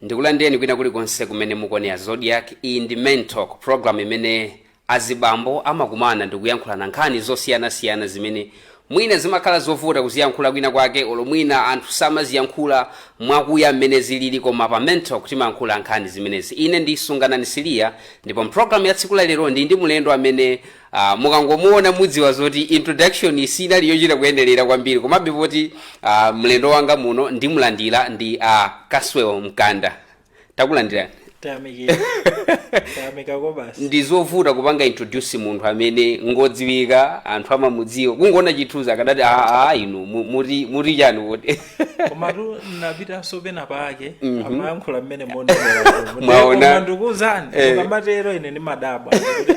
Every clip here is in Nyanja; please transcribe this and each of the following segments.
ndikulandireni kwina kulikonse kumene mukuonera zodiac iyi ndi men talk program imene azibambo amakumana ndikuyankhulana nkhani zosiyanasiyana zimene mwina zimakhala zovuta kuziyankhula kwina kwake olo mwina anthu samaziyankhula mwakuya mmene zilili koma pa men talk timayankhula nkhani zimenezi ine ndi sunganani siliya ndipo mpulogalamu ya tsiku la lero ndi ndi mlendo amene Uh, mukangomuona mudziwa zoti introduction sinali yochita kuyenerera kwambiri komabe poti uh, mlendo wanga muno ndimulandira ndi uh, kaswel mkanda takulandirani tayamikira tayamika kwabasi ndi zovuta kupanga introduce munthu amene ngodziwika anthu amamudziwa kungoona chithunzi akanati aa inu mu- muti muti chani kodi komatu napitanso pena pake amayankhula mmene Mwaona? ndikukuuzani Eh. ukamatero ine ndimadabwa kuti, "Ah,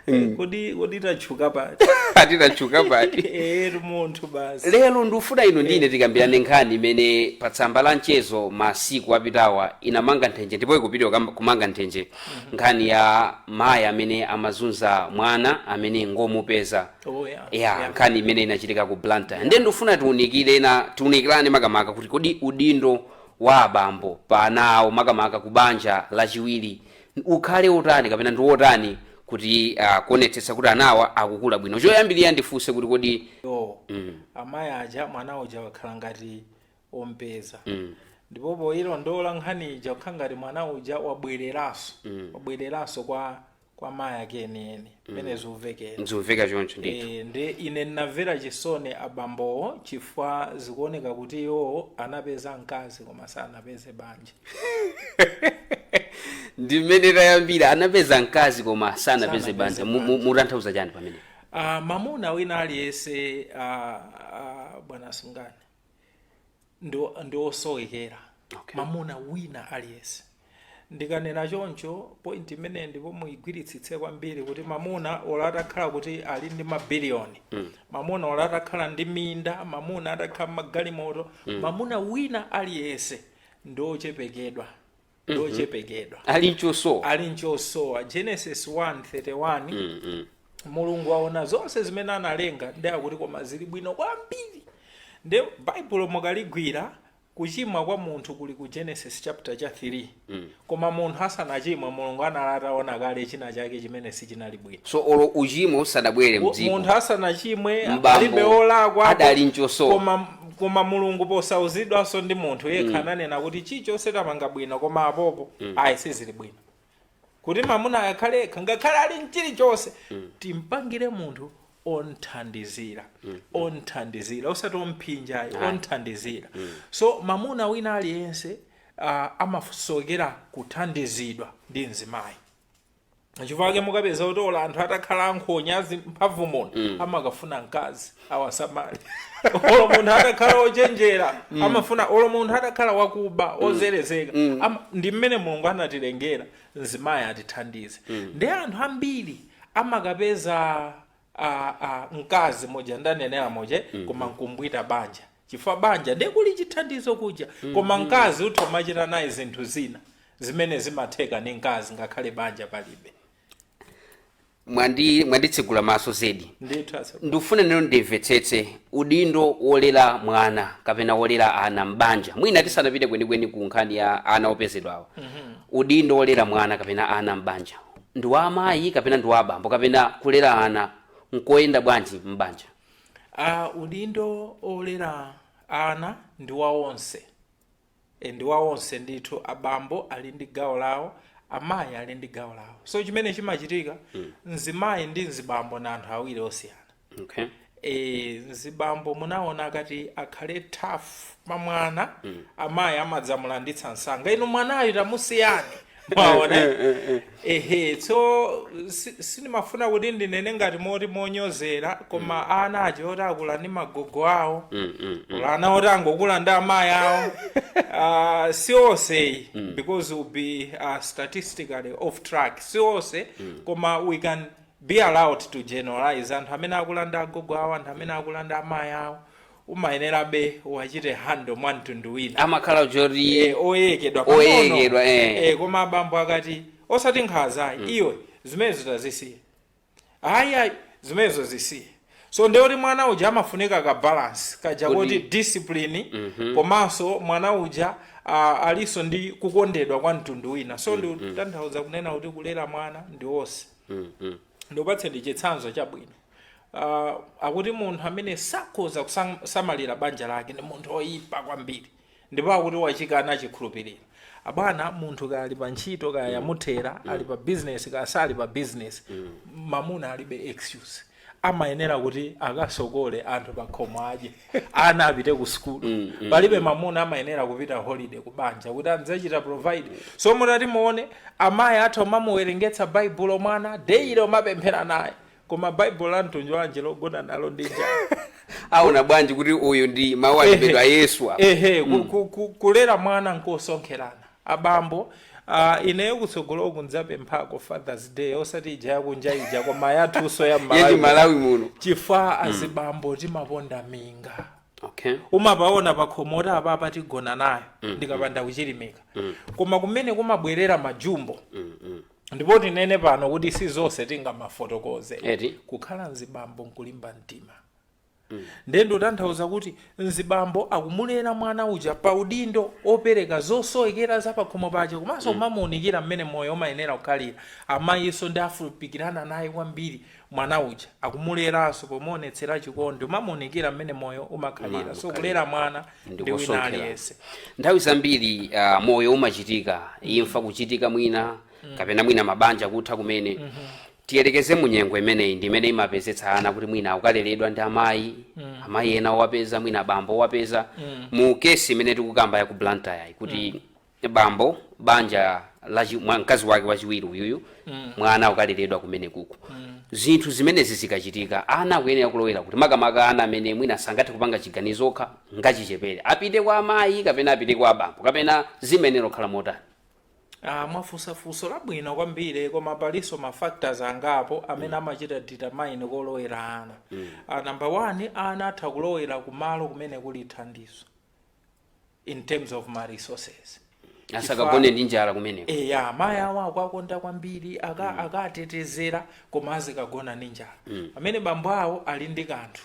Eh, kodi kodi tachuka pati ati tachuka pati eri munthu basi lero ndikufuna inu ndine tikambirane nkhani imene pa tsamba la mchezo masiku apitawa inamanga nthenje ndipo ikupitiriza kukamba- kumanga nthenje nkhani ya mayi amene amazunza mwana amene ngomupeza Oh, yeah. ya Yeah. nkhani imene inachitika ku blantyre ndiye ndikufuna tiunikire na tiunikirane makamaka kuti kodi udindo wa abambo pa ana awo makamaka ku banja lachiwiri ukhale wotani kapena ndi wotani kuti uh, kuonetsetsa kuti anawa akukula bwino choyambirira ndifunse kuti kodi yo mm, amayi aja mwana uja wakhala ngati ompeza mm, ndipo poyilondola nkhani ija ikukhala ngati mwana uja wabwereranso mm, wabwereranso kwa kwa mayi ake enieni mmene zikuvekera zikumveka choncho ndithu Eh, ndi ine ndinamvera chisoni abambowo chifukwa zikuoneka kuti iwowo anapeza mkazi koma sanapeze banja ndi mmene tayambira anapeza mkazi koma sanapeze Sanapeze banja Mu- mu- mutanthauza chani pamene uh, mamuna wina aliyense uh, uh, bwana sunganani ndi, ndi osowekera Okay. mamuna wina aliyense ndikanena choncho point imeneyi ndipo muyigwiritsitse kwambiri kuti mamuna olo atakhala kuti ali ndi mabiliyoni mm. mamuna olo atakhala ndi minda mamuna atakhala magalimoto mm. mamuna wina aliyense ndi ochepekedwa wochepekedwa ali nchosowa ali nchosowa genesis 1:31 mulungu aona zonse zimene analenga ndi akuti koma zili bwino kwambiri nde baibulo mukaligwira kuchimwa kwa munthu kuli ku genesis chaputala cha 3 koma munthu asanachimwe mulungu anali ataona kale china chake chimene sichinali bwino so olo uchimo usadabwere mdziko munthu asanachimwe M'bambo alibe olakwa adali nchosowa. koma koma mulungu posauzidwanso ndi munthu yekha ananena kuti chilichonse tamanga bwino koma apopo ayi sizili bwino kuti mamuna akhale yekha ngakhale ali mchilichonse timpangire munthu onthandizira onthandizira osati omphinja ayi onthandizira so mamuna wina aliyense uh, amasowekera kuthandizidwa ndi mzimayi chifukwa chake mukapeza kuti olo anthu atakhala ankhonya azi mphamvu muno amakafuna mkazi awasamale olo munthu atakhala ochenjera amafuna olo munthu atakhala wakuba ozerezeka ama- ndi mmene mulungu anatilengera mzimayi atithandize ndiye anthu ambiri amakapeza a, a, mkazi moja ndanenera moja mm. koma nkumabwita banja chifukwa banja ndiye kuli chithandizo kuja mm. koma mkazi utha umachita naye zinthu zina zimene zimatheka ndi mkazi ngakhale banja palibe mwandi mwanditsegula maso zedi ndithu asa- ndifuna ndiyeno ndimvetsetse udindo wolera mwana kapena wolera ana m'banja mwina tisanapite kwenikweni ku nkhani ya ana opezedwawo udindo wolera mwana kapena ana m'banja ndi wa amayi kapena ndi wa abambo kapena kulera ana nkoyenda bwanji m'banja a udindo olera ana ndi wa onse E, ndi wa onse ndithu abambo ali ndi gawo lawo amayi ali ndi gawo lawo so chimene chimachitika mzimayi ndi mzibambo ndi anthu awiri osiyana okay. mzibambo munaona akati akhale tough pa mwana mm. amayi amadzamulanditsa msanga inu mwanayo tamusiyani mwaona Eh, eh, eh. ehe so si- sindimafuna kuti ndinene ngati moti monyozera koma ana aja oti akula ndi magogo awo Mm, mm, mm. kaya ana oti angokula ndi amayi awo Ah, si onse because we'll be uh, statistically off track si onse koma we can be allowed to generalize anthu amene akula ndi agogo awo anthu amene akula ndi amayi awo umayenerabe uwachite handle mwa mtundu wina amakhala choti Eh, oyekedwa Oyekedwa, eh. eh, koma abambo akati osati nkhanza ayi iwe zimenezo tazisiye ayi ayi zimenezo zisiye so ndiye kuti mwana uja amafunika ka balance kaja Kuti- kuti discipline komanso mwana uja ah, alinso ndi kukondedwa kwa mtundu wina so ndikutanthauza kunena kuti kulera mwana ndi wonse ndikupatseni chitsanzo chabwino uh, akuti munthu amene sakhoza kusamalira banja lake ndi munthu oyipa kwambiri ndipo akuti wachikana chikhulupiriro abwana munthu kaya ali pa ntchito kaya yamuthera ali pa business kaya sali pa business mamuna alibe excuse amayenera kuti akasokolole anthu pakhomo adye ana apite ku sukulu mm, mm, palibe mamuna amayenera kupita holiday ku banja kuti azichita provide so mutati muone amayi athu umamuwerengetsa baibulo mwana daily umapemphera naye koma baibulo la mtundu wanje logona nalo ndi njala aona bwanji kuti uyu ndi mawu a Ambuye Yesu apa ehe ku- ku- ku- kulera mwana nkosonkherana Abambo, aah ineyo kutsogoloku ndzapemphako fathers day osati ija yakunja ija koma yathunso ya mmalawi muno. Yachimalawi muno. chifukwa mm. azibambo timaponda minga okay. umapaona pakhomo kuti apapa tigona nayo mm. ndikapanda kuchilimika mm. koma kumene kumabwera majumbo mm, mm. ndipo tinene pano kuti si zonse tingamafotokoze kukhala mzibambo nkulimba mtima nde ndikutanthauza kuti mzibambo akumulera mwana uja pa udindo opereka zosowekera za pakhomo pake komanso kumamuunikira mmene moyo umayenera kukhalira amayinso ndi afupikirana naye kwambiri mwana uja akumuleranso pomuonetsera chikondi umamuunikira mmene moyo umakhalira so kulera mwana ndi wina Ndikusonkhera. aliyense nthawi zambiri uh, moyo umachitika imfa kuchitika mwina kapena mwina mabanja kutha kumene tiyerekeze mu nyengo imeneyi ndi imene imapezetsa ana kuti mwina akukaleredwa ndi amayi mm. amayi ena owapeza mwina bambo owapeza mm. mu kesi imene tikukamba ya ku blantyre kuti mm. bambo banja la chi- mwa- mkazi wake wachiwiri uyuyu mm. mwana akukaleredwa kumene kuku mm. zinthu zimenezi zikachitika ana akuyenera kulowera kuti makamaka ana amene mwina sangathe kupanga chiganizo okha ngachichepere apite kwa amayi kapena apite kwa bambo kapena zimayenera kukhala motani Ah, mwafunsa funso labwino kwambiri koma palinso ma factors angapo amene amachita determine kolowera ana Ah, number one ana atha kulowera kumalo kumene kuli thandizo in terms of ma resources asakagone ndi njala kumeneko eya mayi awo akwakonda kwambiri aka- akatetezera koma azikagona ndi njala pamene bambo awo ali ndi kanthu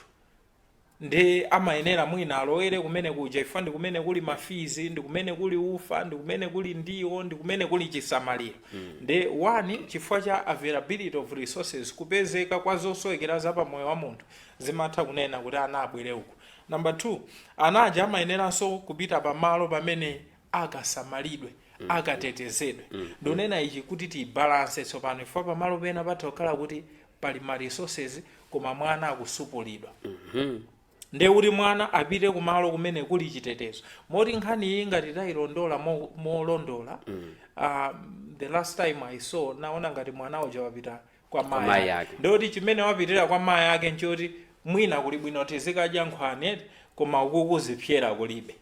nde amayenera mwina alowere kumene kuja chifukwa ndi kumene kuli ma fees ndi kumene kuli ufa ndi kumene kuli ndiwo ndi kumene kuli chisamaliro nde one chifukwa cha availability of resources kupezeka kwa zosowekera za pamoyo wa munthu zimatha kunena kuti ana abwere uku number two ana aja amayeneranso kupita pamalo pamene akasamalidwe akatetezedwe ndonena ichi kuti tiyi balance tsopano chifukwa pamalo pena patha kukhala kuti pali ma resources koma mwana akutsupulidwa nde kuti mwana apite kumalo kumene kuli chitetezo moti nkhani iyi ngati tayilondola mo- molondola ah, the last time i saw naona ngati mwana uja wapita kwa mayi mayi ake. ake ndikuti chimene wapitira kwa mayi ake nchoti mwina kuli bwino tizikadya nkhwani eti koma ukuku zipsera kulibe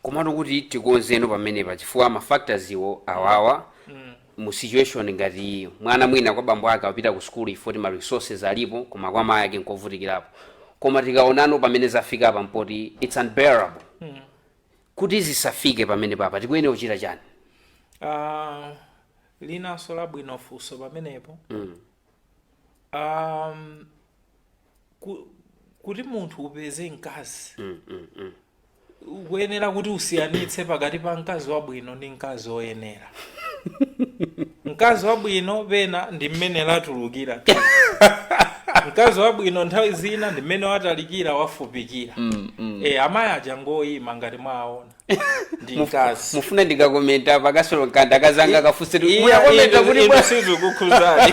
komano kuti tikonzeno pamenepa chifukwa ma factors iwo awawa mu situation ngati iyi mwana mwina kwa bambo ake apita ku sukulu chifukwa choti ma resources alipo koma kwa mayi ake nkovutikirapo koma tikaonano pamene zafika apa mpoti it's unbearable kuti zisafike pamene papa tikuyenera kuchita chani Ah, ilinso labwino funso pamenepo um, ku- kuti munthu upeze mkazi Mm, mm, mm. ukuyenera kuti usiyanitse pakati pa mkazi wabwino ndi mkazi woyenera mkazi wabwino pena ndi mmene latulukira mkazi wabwino nthawi zina ndi mmene watalikira wafupikira Mm, mm. e amayi aja ngoyima ngati mwaona ndi Muf- mkazi mufuna ndikakomenta pakasolo mkanda akazanga akafunse Iya, muyakomenta inu- kuti inu bwa- sizikukhuzani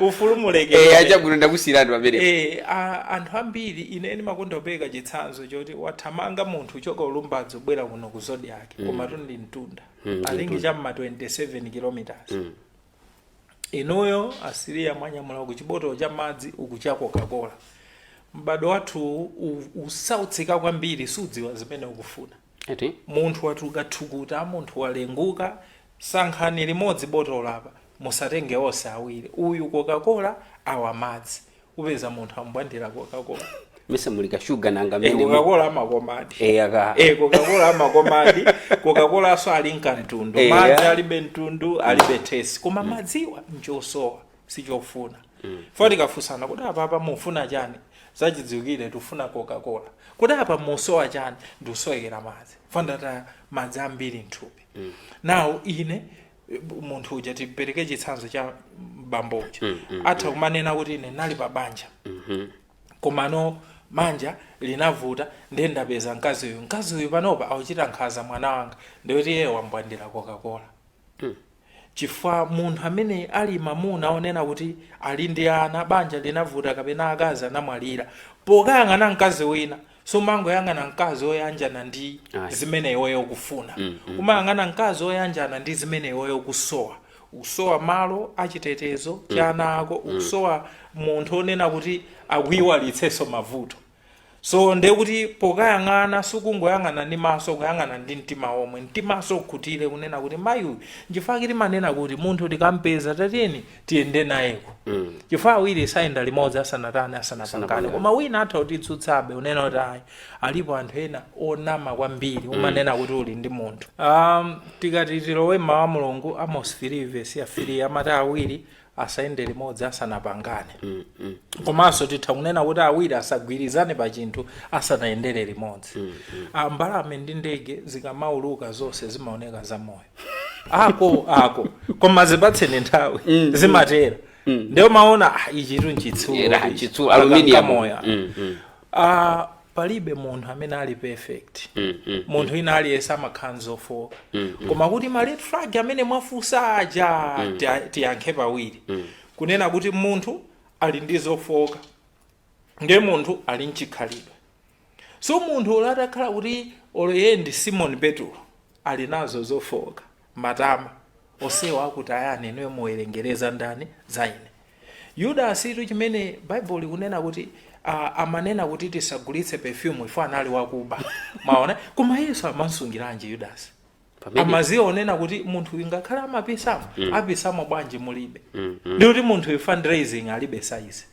ufulu Eh, mulekere achabwino ndakusiyiratu pamene Eh, a- anthu ambiri ine ndimakonda kupereka chitsanzo choti wathamanga munthu kuchoka ku Lumbadzi kubwera kuno ku Zodiak komatu ndi mtunda alingi cha m'ma 27 kilometers inuyo a Siriya mwanyamula uku chibotolo cha madzi uku cha coca-cola m'bado wathu u- ukusautsika kwambiri sudziwa zimene ukufuna eti munthu watuluka thukuta munthu walenguka sankhani limodzi botolo apa musatenge onse awiri uyu coca-cola awa madzi upeza munthu ambwandira kokakola mesa muli kashuga nanga e, mene kokakola amakomadi Eh, aka e, kokakola amakomadi kokakolanso ali nkamtundu Eh, madzi ya. alibe mtundu alibe tesi koma madziwo nchosowa sichofuna foti kafunsana kuti apapa mufuna chani zachidziwikire tufuna kokakola kuti apa musowa chani ndikusowekera madzi fo ndataya madzi ambiri mthupi nawo ine munthu uja tipereke chitsanzo cha bambo uja mm, mm, atha mm. kumanena kuti ine nali pa banja mm -hmm. komano banja linavuta ndiye ndapeza mkazi uyu mkazi uyu panopa akuchitira nkhanza mwana wanga ndikuti iye wambwandira kokakola mm. chifukwa munthu amene ali mamuna onena kuti ali ndi ana banja linavuta kapena akazi anamwalira pokayang'ana mkazi wina sumangoyang'ana mkazi woyanjana ndi Ayi. zimene iweyo ukufuna Mm, mm. umayang'ana mkazi woyanjana ndi zimene iweyo ukusowa ukusowa malo a chitetezo cha ana ako ukusowa munthu onena kuti akuyiwalitsenso mavuto so ndiye kuti pokayang'ana sukungoyang'ana ndi maso kuyang'ana ndi mtima omwe mtimanso ukhutire kunena kuti mayi uyu nchifukwa timanena kuti munthu tikampeza tatiyeni tiyende nayeko chifukwa awiri sayenda limodzi asanatani asanapangane koma wina atha kutitsutsabe unena kuti ayi alipo anthu ena onama kwambiri umanena kuti uli ndi munthu um, tikati tilowe mmawu a mulungu amos 3 vesi ya 3 amati awiri asayende limodzi asanapangane komanso titha kunena kuti awiri asagwirizane pa chinthu asanayendere limodzi Ah, mbalame ndi ndege zikamauluka zonse zimaoneka zamoyo ako ako koma zipatseni nthawi Mm, zimatera mm. ndiye umaona ah, ichitu nchitsulo Eya, ichi. chitsulo, Aka aluminium. nkamoya. Mm, mm, Ah, palibe munthu amene ali perfect mm, mm. munthu wina aliyense amakhala nzofooka koma kuti ma red flag amene mwafunsa aja tia- tiyankhe pawiri kunena kuti munthu ali ndi zofooka ndi munthu ali nchikhalidwe So munthu olo atakhala kuti olo iye ndi Simon Petulo ali nazo zofooka, matama, onsewa akutayani inuyo muwerengere za ndani za ine. Yudasitu chimene Bible likunena kuti ah, amanena kuti tisagulitse perfume chifukwa anali wakuba. Maona? Koma Yesu amansungiranji Yudasi? Pamene- amadziwa kunena kuti munthu uyu ngakhale amapisamo apisamo bwanji mulibe ndikuti munthu uyu fundraising alibe size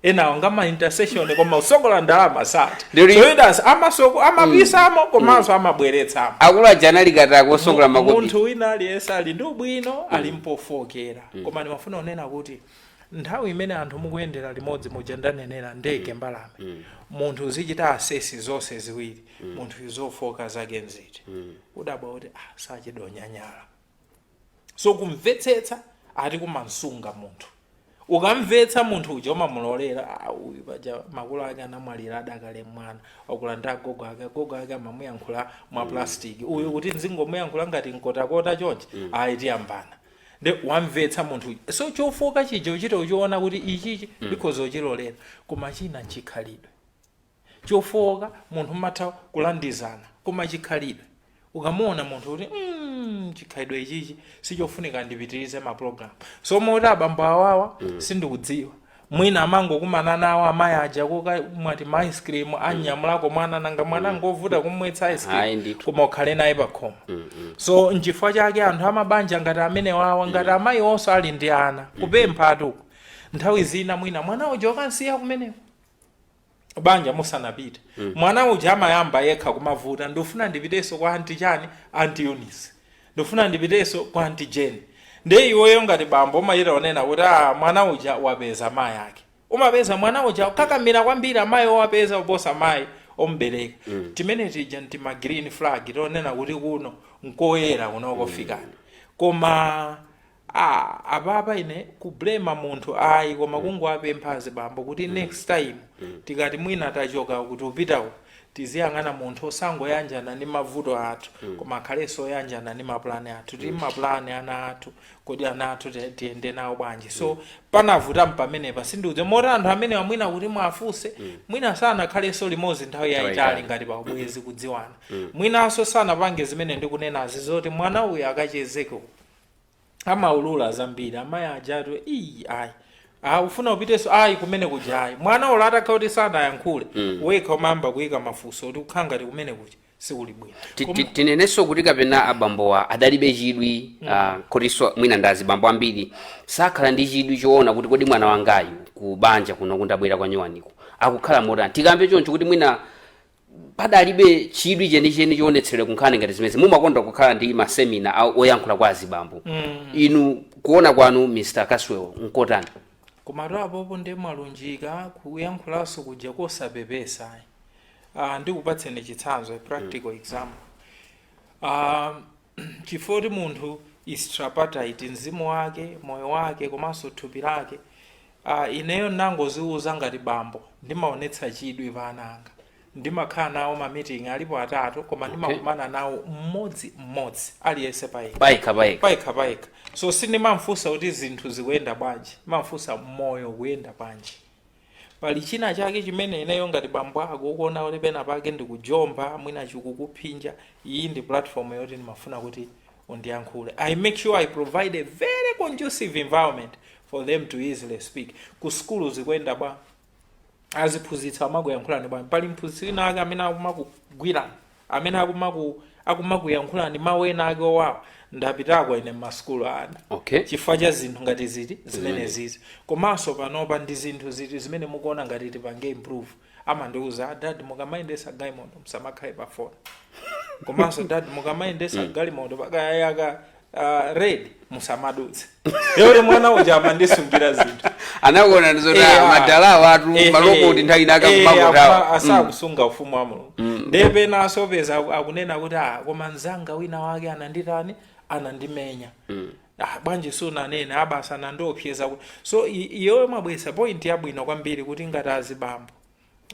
enawo ngama intercession koma kusokola ndalama sati Ndiri- so Yudasi amasoko amapisamo komanso amabweretsamo akulu aja anali katakwe kusokola makopi munthu wina aliyense ali ndi ubwino ali mpofookera koma ndimafuna kunena kuti nthawi imene anthu mukuyendera limodzi muja ndanenera ndege mbalame munthu uzichita assess zonse ziwiri munthuyu zofooka zake nziti udabwa kuti ah, sachedwa kunyanyala so kumvetsetsa eti kumansunga munthu ukamvetsa munthu uja umamulolera "Ah, uyu paja makolo ake anamwalira adakali mwana wakula ndi agogo ake agogo ake amamuyankhula mwa plastiki uyu kuti nzingomuyankhula ngati mkotakota chonchi ayi tiyambana nde wamvetsa munthu uja so chofooka chija uchita uchiona kuti ichichi ndikhoza uchilolera koma china nchikhalidwe chofooka munthu mmatha kulandizana koma chikhalidwe ukamuona munthu kuti mm, chikhalidwe ichichi sichofunika ndipitirize ma program so moti abambo awawa mm. sindikudziwa mwina amangokumana nawo amayi aja kokamwa tima ice cream anyamulako mwana nanga mwana ngovuta kumwetsa ice Ayi, cream ndithu. koma ukhale naye pakhomo so nchifukwa chake anthu amabanja ngati amene wawa ngati amayiwonso ali ndi ana kupemphatu nthawi zina mwina mwana uja ukansiya kumeneko banja musanapite mwana uja amayamba yekha kumavuta ndifuna ndipitenso kwa anti chani anti Eunice ndifuna ndipitenso kwa anti Jane nde iweyo ngati bambo umachita kunena kuti "Ah, mwana uja wapeza mayi ake umapeza mwana uja akukakamira kwambiri amayi owapeza kuposa mayi omubereka timene tija ntima green flag tonena kuti kuno nkoyera kuno kofikani koma Aaa apapa ine ku blamer munthu ayi koma kungowapempha azibambo kuti next time tikati mwina tachoka uku tikupita uku tiziyang'ana munthu osangoyanjana ndi mavuto athu koma akhalenso oyanjana ndi maplan athu tili ndi maplan ana athu kodi ana athu ti- tiyende nawo bwanji so panavuta pamenepa sindikudziwa moti anthu amenewa mwina kuti mwafunse mwina sanakhalenso limodzi nthawi yayitali ngati pa ubwenzi kudziwana mwinanso sanapange zimene ndikunenazi zoti mwana uyu akachezeke uku amaulula zambiri amayi ajatu iyi ayi Ah, ufuna upitenso ayi kumene kuja ayi mwana olo atakhala kuti sanayankhule wekha umayamba kuyika mafunso kuti ukhala ngati kumene kuja sikuli bwino Ti- ti- tinenenso kuti kapena abambowa adalibe chidwi ah, kotinso mwina ndi azibambo ambiri sakhala ndi chidwi choona kuti kodi mwana wangayu ku banja kuno kunabwera kwa nyuwaniko akukhala motani tikambe choncho kuti mwina padalibe chidwi chenicheni chionetseredwa ku nkhani ngati zimenezi mumakonda kukhala ndi masemina a- oyankhula kwa azibambo inu kuona kwanu mr caswell nkotani komatu apopo ndi mwalunjika kuyankhulanso kuja kosapepesa uh, ndikupatseni chitsanzo a practical example uh, chifukwa kuti munthu is tripartite mzimu wake moyo wake komanso thupi lake uh, ineyo ndinangoziwuza ngati bambo ndimaonetsa chidwi pa ana anga ndimakhala nawo mamiting alipo atatu koma ndimakumana nawo mmodzi mmodzi aliyense payekha payekha payekha payekha payekha so sindimamfunsa kuti zinthu zikuyenda bwanji ndimamfunsa moyo ukuyenda bwanji Pali china chake chimene ineyo ngati bambo ako ukuona kuti pena pake ndikujomba, mwina chikukuphinja, iyi ndi platform yoti ndimafuna kuti undiyankhule. I make sure I provide a very conducive environment for them to easily speak. Ku sukulu zikuyenda bwa? Aziphunzitsi amakuyankhulani bwanji? Pali mphunzitsi wina wake amene akumakugwirani? amene akumaku akumakuyankhulani mawu ena ake owawa ndapitako ine m'masukulu a ana Okay. chifukwa cha zinthu ngati ziti zimenezizi komanso panopa ndi zinthu ziti zimene mukuona ngati tipange improve amandiuza adad mukamayendesa galimoto musamakhale pafoni komanso dad mukamayendesa galimoto pakayayaka uh, red musamadutse yoti mwana uja amandisungira zinthu anakuona ndizoti Eh, ah, ah. madala watu Eh, maloko eh, kuti nthawi inaka eh, akuma- kumakutawa asakusunga ufumu wa mulungu ndiye pena asopeza aku- akunena kuti ah, koma mzanga wina wake ananditani anandimenya Ah, bwanji sunanene abasa anandiopseza kuti so i- iyoyo mwabwesa point yabwino kwambiri kuti ngati azibambo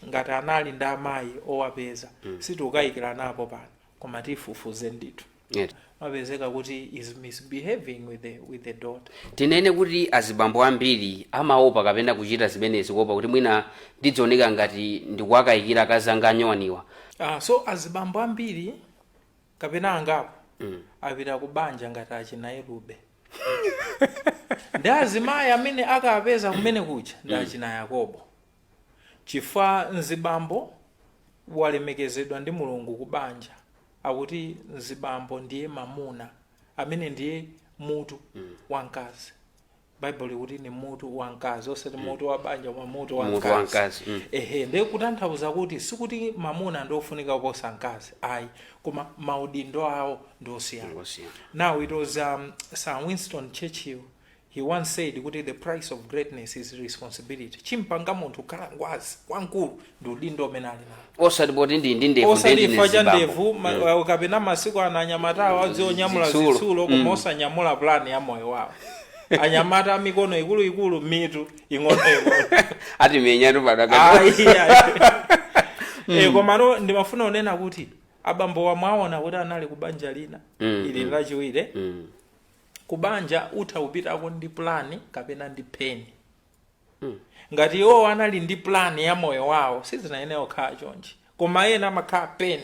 ngati anali ndi amayi owapeza sitikukayikiranapo pano koma tifufuze ndithu Eti. mapezeka kuti is misbehaving with the, with the daughter tinene kuti azibambo ambiri amaopa kapena kuchita zimenezi kuopa kuti mwina ndidzioneka ngati ndikuwakayikira akazanga anyuwaniwa ah, so azibambo ambiri kapena angapo mm. apita ku banja ngati achina Elube ndi azimayi amene akapeza kumene kuja ndi achina yakobo Chifukwa mzibambo walemekezedwa ndi Mulungu ku banja, akuti mzibambo ndiye mamuna, amene ndiye mutu wa mkazi. Baibulo likuti ndi mutu wa mkazi, osati mutu wa banja, koma mutu wa Mutu wa mkazi. mkazi, mm. Ehe, ndiye kutanthauza kuti sikuti mamuna ndi ofunika kuposa mkazi, ayi, koma maudindo awo ndi osiyana. Osiyana. Now it was um, Sir Winston Churchill He once said kuti the price of greatness is responsibility. Chimampanga munthu kukhala ngwazi wamkulu ndi udindo umene ali nawo. osati poti ali ndi ndevu osati ndeti chifukwa cha nezibambo. ndevu ma- uh, kapena masiku ano anyamata awo odziwa onyamula Zitsulo. zitsulo koma osanyamula pulani ya moyo wawo anyamata amikono ikuluikulu mitu ing'onoing'ono ati menyatu padaka Ayi, ayi. Eh, komano ndimafuna kunena kuti abambo amwene aona kuti anali kubanja lina ili lachiwiri Mm. ku banja utha kupitako ndi pulani kapena ndi pain ngati iwowo anali ndi pulani ya moyo wawo sizinayenera kukhala chonchi koma ena amakhala pain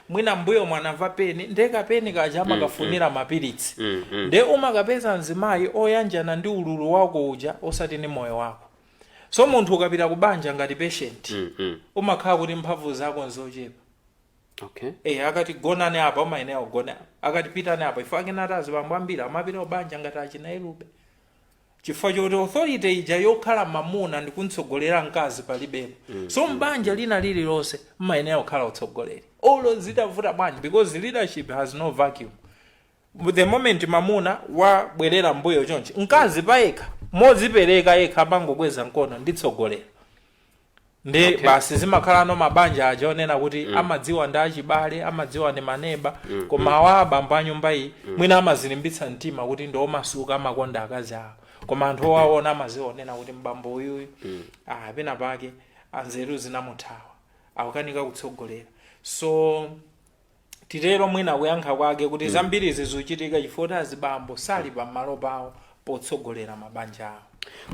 mwina mbuyomu anamva pain nde ka pain kaja amakafunira mapiritsi nde umakapeza mzimayi oyanjana ndi ululu wako uja osati ndi moyo wako so munthu ukapita ku banja ngati patient umakhala kuti mphamvu zako nzochepa okay Eh, akati gonani apa umayenera ugone apa akati pitani apa ife tikunati azibambo ambiri amapita kubanja ngati achina elube chifukwa choti authority ija yokhala mamuna ndi kumtsogolera mkazi palibepo so mbanja lina lililonse mmayenera kukhala utsogoleri olo zitavuta bwanji because leadership has no vacuum the moment mamuna wabwerera mbuyo chonchi mkazi payekha mozipereka yekha amangokweza mkono nditsogolera ndi Okay. basi zimakhala ano mabanja aja onena kuti amadziwa ndi achibale amadziwa ndi maneba koma awa abambo a nyumba iyi mwina amazilimbitsa mtima kuti ndi omasuka amakonda akazi awo koma anthu owaona amadziwa onena kuti mbambo uyuyu ah, pena pake anzeru zinamuthawa akukanika kutsogolera so titero mwina kuyankha kwake kuti zambirizi zikuchitika chifukwa kuti azibambo sali pamalo pawo potsogolera mabanja awo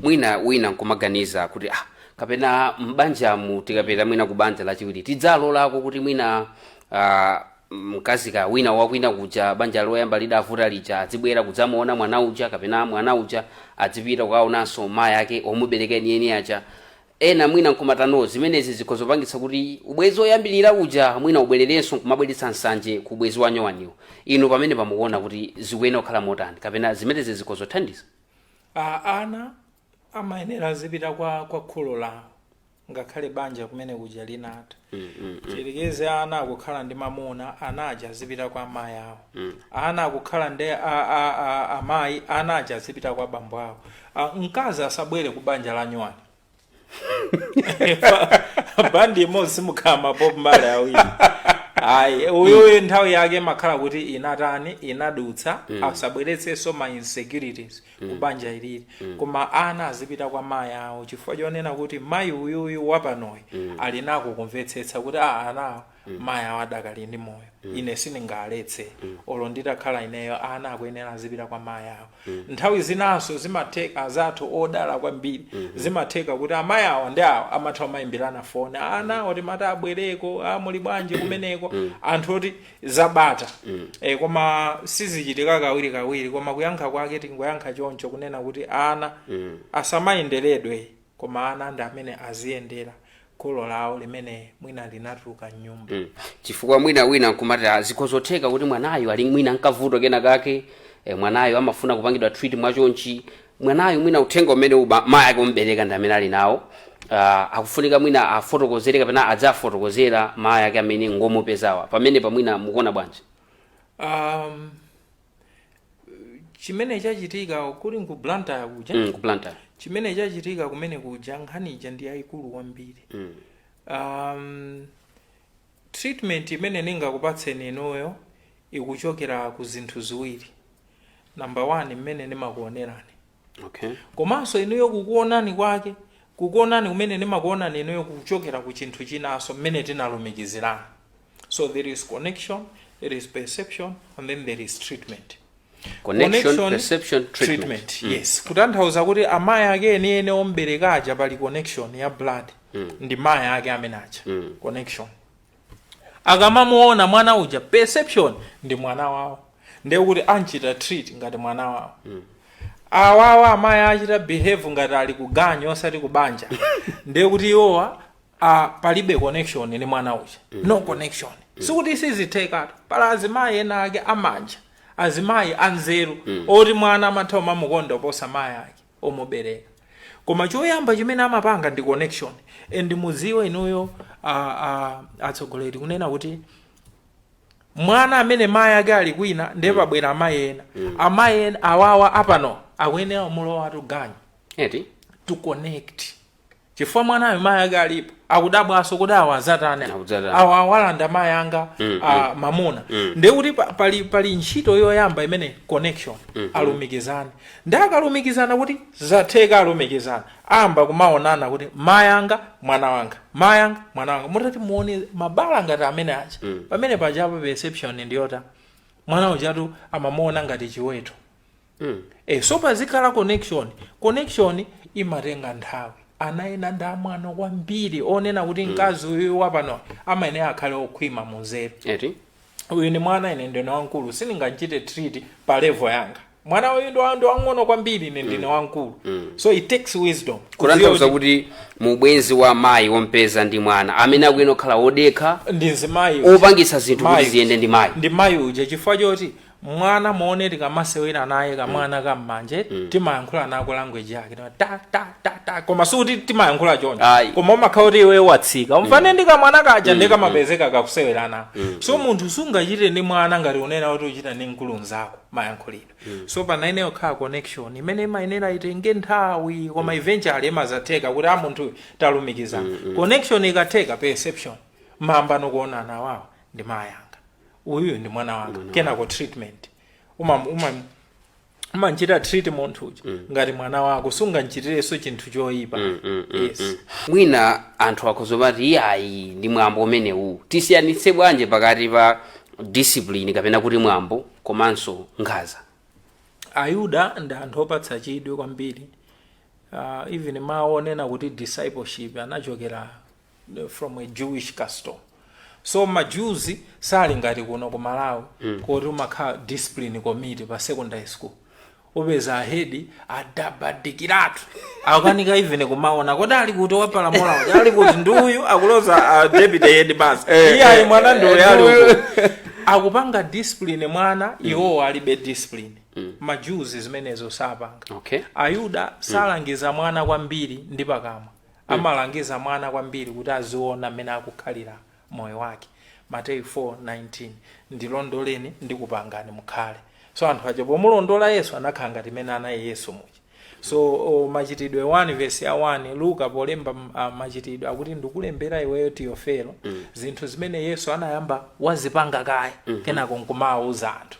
mwina wina nkumaganiza kuti ah, kapena m'banjamu tikapita mwina ku banja lachiwiri tidzalolako kuti mwina ah, mkazi kaya wina wakwina kuja banja loyamba lidavuta lija adzibwera kudzamuona mwana uja kapena mwana uja adzipita kukaonanso mayi ake omubereka enieni aja ena mwina nkumati no zimenezi zikhoza kupangitsa kuti ubwezi oyambilira uja mwina ubwererenso nkumabweretsa nsanje ku ubwezi wanyuwaniwo inu pamenepa mukuona kuti zikuyenera kukhala motani kapena zimenezi zikhoza kuthandiza a ana amayenera azipita kwa kwa kholo lawo ngakhale banja kumene kuja linatha tiyerekeze ana akukhala ndi mamuna ana aja azipita kwa amayi awo ana akukhala ndi a- a- a- amayi ana aja azipita kwa bambo awo Ah, mkazi asabwere ku banja la nyuwani bandi imodzi simukhala mapopu mbale awiri ayi uyuyu nthawi yake imakhala kuti inatani inadutsa asabweretsenso ma insecurities ku banja ililili koma ana azipita kwa mayi awo chifukwa chonena kuti mayi uyuyu wapanoyu ali nako kumvetsetsa kuti a anawo mayi awo adakali ndi moyo ine sindingaletse olo nditakhala ineyo ana akuyenera azipita kwa mayi awo nthawi zinanso zimatheka azathu odala kwambiri zimatheka kuti amayi awo ndi awo amatha kumayimbirana foni anawo timati abwereko a muli bwanji kumeneko anthu oti zabata mm. e, koma sizichitika kawiri kawiri koma kuyankha kwake tingoyankha choncho kunena kuti ana mm. asamayenderedwe koma ana ndi amene aziyendera kholo lawo limene mwina linatuluka mnyumba mm. chifukwa mwina wina nkumati "Ah, zikhoza otheka kuti mwanayo ali mwina nkavuto kena kake e, mwanayo amafuna kupangidwa treat mwachonchi mwanayo mwina uthenga umene a mayi ake omubereka ndi amene ali nawo uh, akufunika mwina afotokozere kapena adzafotokozera mayi ake amene ngomupezawa pamenepa mwina mukuona bwanji um, chimene chachitika kuli ku blantyre kuja mm, ku blantyre chimene chachitika kumene kuja nkhani ija ndi yayikulu kwambiri mm. um, treatment imene ndingakupatseni inuyo ikuchokera ku zinthu ziwiri namba 1 mmene ndimakuonerani okay komanso inuyo kukuonani kwake kukuonani kumene ndimakuonani inuyo kukuchokera ku chinthu chinanso mmene tinalumikizirana so there is connection there is perception and then there is treatment Connection, perception, treatment. Mm. yes kutanthauza kuti amayi ake eniene ombereka aja pali connection ya blood ndi mayi ake amene aja connection akamamuona mwana uja perception ndi mwana wawo ndiye kuti amchita treat ngati mwana wawo awawa amayi achita behave ngati ali kuganyu osati kubanja ndiye kuti iwowa ah, palibe connection ndi mwana uja no connection sikuti sizithekatu pala azimayi ena ake amanja azimayi anzeru oti mwana amatha umamukonda oposa mayi ake omubereka koma choyamba chimene amapanga ndi connection and mudziwe inuyo a, a, atsogoleri kunena kuti mwana amene mayi ake ali kwina ndiye pabwera amayi ena amayi ena awawa apano akuyenera umulowatu ganyu eti to connect chifukwa mwanayo mayi anga alipo akudabwanso kuti awa azatani awalanda mayi anga mamuna ndiye kuti pali ntchito yoyamba imene connection alumikizane ndiye akalumikizana kuti zatheka alumikizana ayamba kumaonana kuti mayi anga mwana wanga mayi anga mwana wanga mutati muwone mabala ngati amene aja pamene pajapo perception ndiyota mwana ujatu amamuona ngati chiweto mm. e, so pazikhala connection connection imatenga nthawi ana ena ndi amwano kwambiri onena kuti mm. mkazi uyu wapano amayenera akhale okhwima munzeru eti uyu ni mwana ine ndine wamkulu sindingamuchite treat pa level yanga mwana uyu ndi wa- ndi wang'ono kwambiri ine ndine wamkulu so it takes wisdom kutanthauza kuti mu ubwenzi wa mayi wompeza ndi mwana amene akuyenera kukhala wodekha ndi mzimayi opangitsa zinthu kuti ziyende ndi mayi uja chifukwa choti mwana muone tikamasewera naye kamwana ka mmanje timayankhula nako language yake ta ta ta ta koma sikuti timayankhula choncho koma umakhala kuti iwe watsika ufane ndi kamwana kaja ndiye kamapezeka kakusewera nako so munthu sungachite ndi mwana ngati unena kuti uchita ndi mkulu mzako mayankhulidwe so pamayenera kukhala connection imene imayenera itenge nthawi koma eventually imazatheka kuti a munthu talumikizana connection ikatheka perception mumayamba kuonana awawa ndi mayi anga uyuyu ndi mwana wanga kenako treatment umam- umam- umamchita treat munthu uja ngati mwana wako sungamchitirenso chinthu choyipa yes mwina anthu akhoza kumati iyayi ndi mwambo umenewu tisiyanitse bwanji pakati pa discipline kapena kuti mwambo komanso nkhaza ayuda ndi anthu opatsa chidwi kwambiri uh, even mawu onena kuti discipleship anachokera from a jewish custom so ma jews sali ngati kuno ku malawi kuti umakhala discipline committee pa secondary school upeza ahedi adabadikiratu akanika even kumaona kodi ali kuti wapalamula uja ali kuti ndi uyu akuloza ah, deputy headmaster iye mwana ndi uyu ali uko akupanga discipline mwana iwowo alibe discipline ma jews zimenezo sapanga okay ayuda salangiza mwana kwambiri ndi pakamwa Amalangiza mwana kwambiri kuti aziona mmene akukhalira moyo wake, Mateyu 4:19. Ndilondoleni ndikupangani mukhale. So anthu aja pomulondola Yesu anakhala ngati mmene anali Yesu muja. So o, Machitidwe 1 vesi ya 1 Luka polemba m- a, Machitidwe akuti ndikulembera iweyo Tiyofelo zinthu zimene Yesu anayamba wazipanga kaye kenako nkumawuza anthu.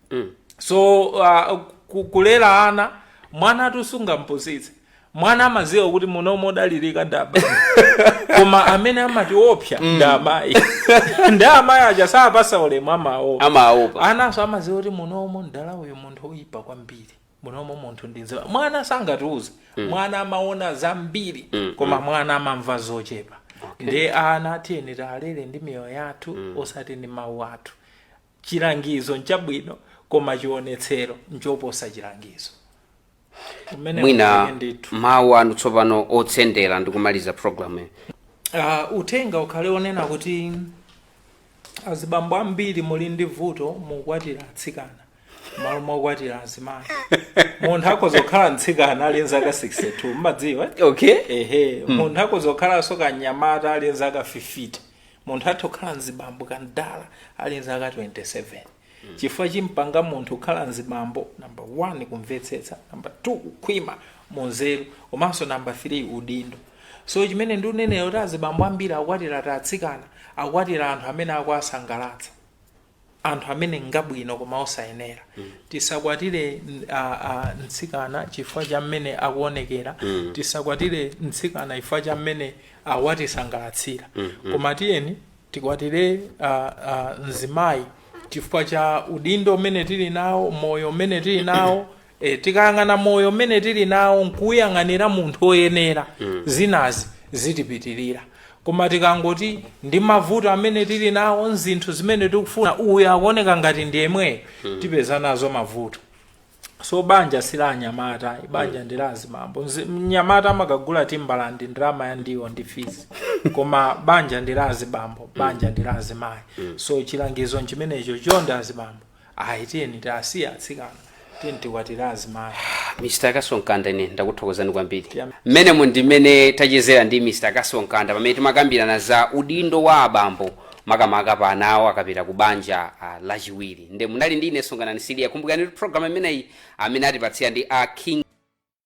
so uh, ku- kulera ana mwanatu sungampusitse mwana amaziwa kuti munomo odalirika nda bambo koma amene amatiopsa ndi amayi ndi amayi aja sapasa ulemu amaopa amaopa ananso amaziwa kuti munomo mdala uyu munthu oyipa kwambiri munomo munthu ndinziwa mwana sangatiuze mwana amaona zambiri koma mwana amamva zochepa ndi ana tiyeni tiwalere ndi miyoyo yathu osati ndi mawu athu Chilangizo nchabwino, koma chionetsero nchoposa chilangizo. Mwina ndi mawu anu tsopano otsindira ndi kumaliza programu Uh, uthenga ukhale onena kuti azibambo ambiri muli ndi vuto mukwatira atsikana malo mokwatira azimayi munthu akhoza kukhala mtsikana ali nzaka 62 mmadziwa okay ehe munthu akhoza kukhalanso kanyamata ali nzaka 50 munthu atha kukhala mzibambo kamdala ali nzaka 27 chifukwa chimpanga munthu kukhala mzibambo namba 1 kumvetsetsa namba 2 kukhwima munzeru komanso namba 3 udindo so chimene ndikunena nkuti azibambo ambiri akwatira atsikana akwatira anthu amene akuwasangalatsa anthu amene ngabwino koma osayenera tisakwatire n- a- a- mtsikana chifukwa cha mmene akuonekera tisakwatire mtsikana chifukwa cha mmene akutisangalatsira koma tiyeni tikwatire a- a, mzimayi chifukwa cha udindo umene tili nawo moyo umene tili nawo E, tikayang'ana moyo umene tili nawo nkuuyang'anira munthu oyenera mm. zinazi zitipitilira koma tikangoti ndi mavuto amene tili nawo nzinthu zimene tikufuna uyu akuoneka ngati ndi yemweyo mm. tipeza nazo mavuto so banja si la anyamata banja mm. ndi la azibambo mnyamata amakagula Timberland ndalama ya ndiwo ndi fees koma banja ndi la azibambo banja mm. ndi la azimayi mm. so chilangizo nchimenecho chonde azibambo ayi tiyeni tiasiye atsikana tiyeni tikwatire azimayi mr kasonkanda ine ndakuthokozani kwambiri Yeah. mmenemo ndi mmene tachezera ndi mr kasonkanda pamene timakambirana za udindo wa abambo makamaka pa ana awo akapita ku banja ah, lachiwiri nde munali ndi ine songanani siliya kumbukirani kuti programu imeneyi amene akutipatsira ndi a king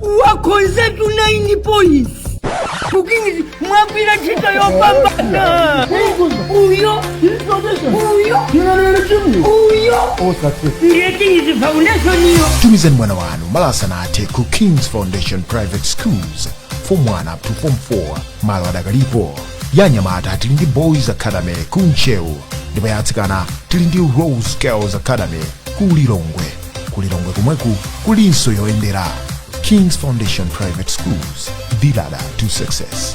Mwakhonzatu 9 points ku kings mwagwira ntchito yopambana uyo uyo uyo ndiye kings foundation iyo tumizani mwana wanu malo asanathe ku kings foundation private schools form 1 up to form 4 malo adakalipo ya anyamata tili ndi boys academy ku ntcheu ndipo ya atsikana tili ndi rose girls academy ku lilongwe ku lilongwe komweku kulinso yoyendera kings foundation private schools the ladder to success